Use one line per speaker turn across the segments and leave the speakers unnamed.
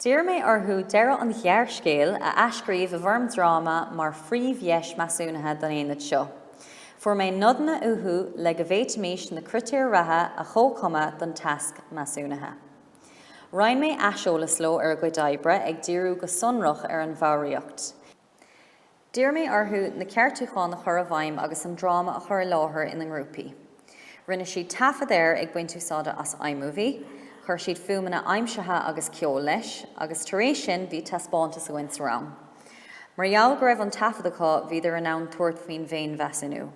D'iarr mé orthu deireadh an ghearrscéil a athscríobh i bhfoirm dráma mar phríomhdheis measúnaithe don aonad seo. Fuair mé nodanna uathu le go bhféadfaimis na critéir ratha a chomhchumadh don tasc measúnaithe. Roinn mé aiseolas leo ar a gcuid oibre ag díriú go sonrach ar an bhfoghraíocht. D'iarr mé orthu na ceartúcháin a chur i bhfeidhm agus an dráma a chur i láthair ina ngrúpaí. Rinne siad taifead air ag baint úsáide as iMovie, chuir siad fuaimeanna aimsithe agus ceol leis, agus tar éis sin bhí taispeántas againn sa rang. Mar gheall go raibh an taifead acu, bhíodar in ann tabhairt faoin bhféinmheasúnú.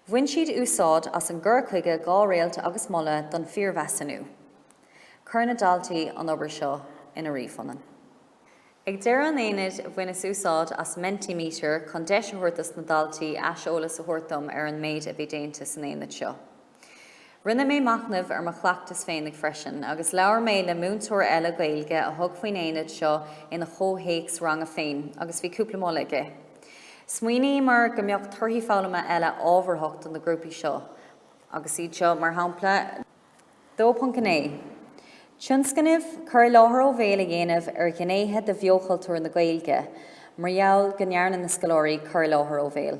Bhain siad úsáid as an gcur chuige dhá réalta agus moladh don phiarmheasúnú. Chuir na daltaí an obair seo ina ríomhphunann. Ag deireadh an aonaid, bhaineas úsáid as Mentimeter chun deis a thabhairt dos na daltaí aiseolas a thabhairt dom ar an méid a bhí déanta san aonad seo. Rinne mé machnamh ar mo chleachtas féinig freisin agus labhair mé le múinteoir eile Gaeilge a thug faoin aonad seo ina chomhthéacs ranga féin agus bhí cúpla moladh aige. Smaoiníomar go mbeadh torthaí foghlama eile ábharthach do na grúpaí seo agus iad seo mar shampla, 2.9 Tionscnamh, Cur i láthair ó bhéal a dhéanamh ar ghnéithe de bheochultúr na Gaeilge mar gheall go ndearna na scoláirí cur i láthair ó bhéal.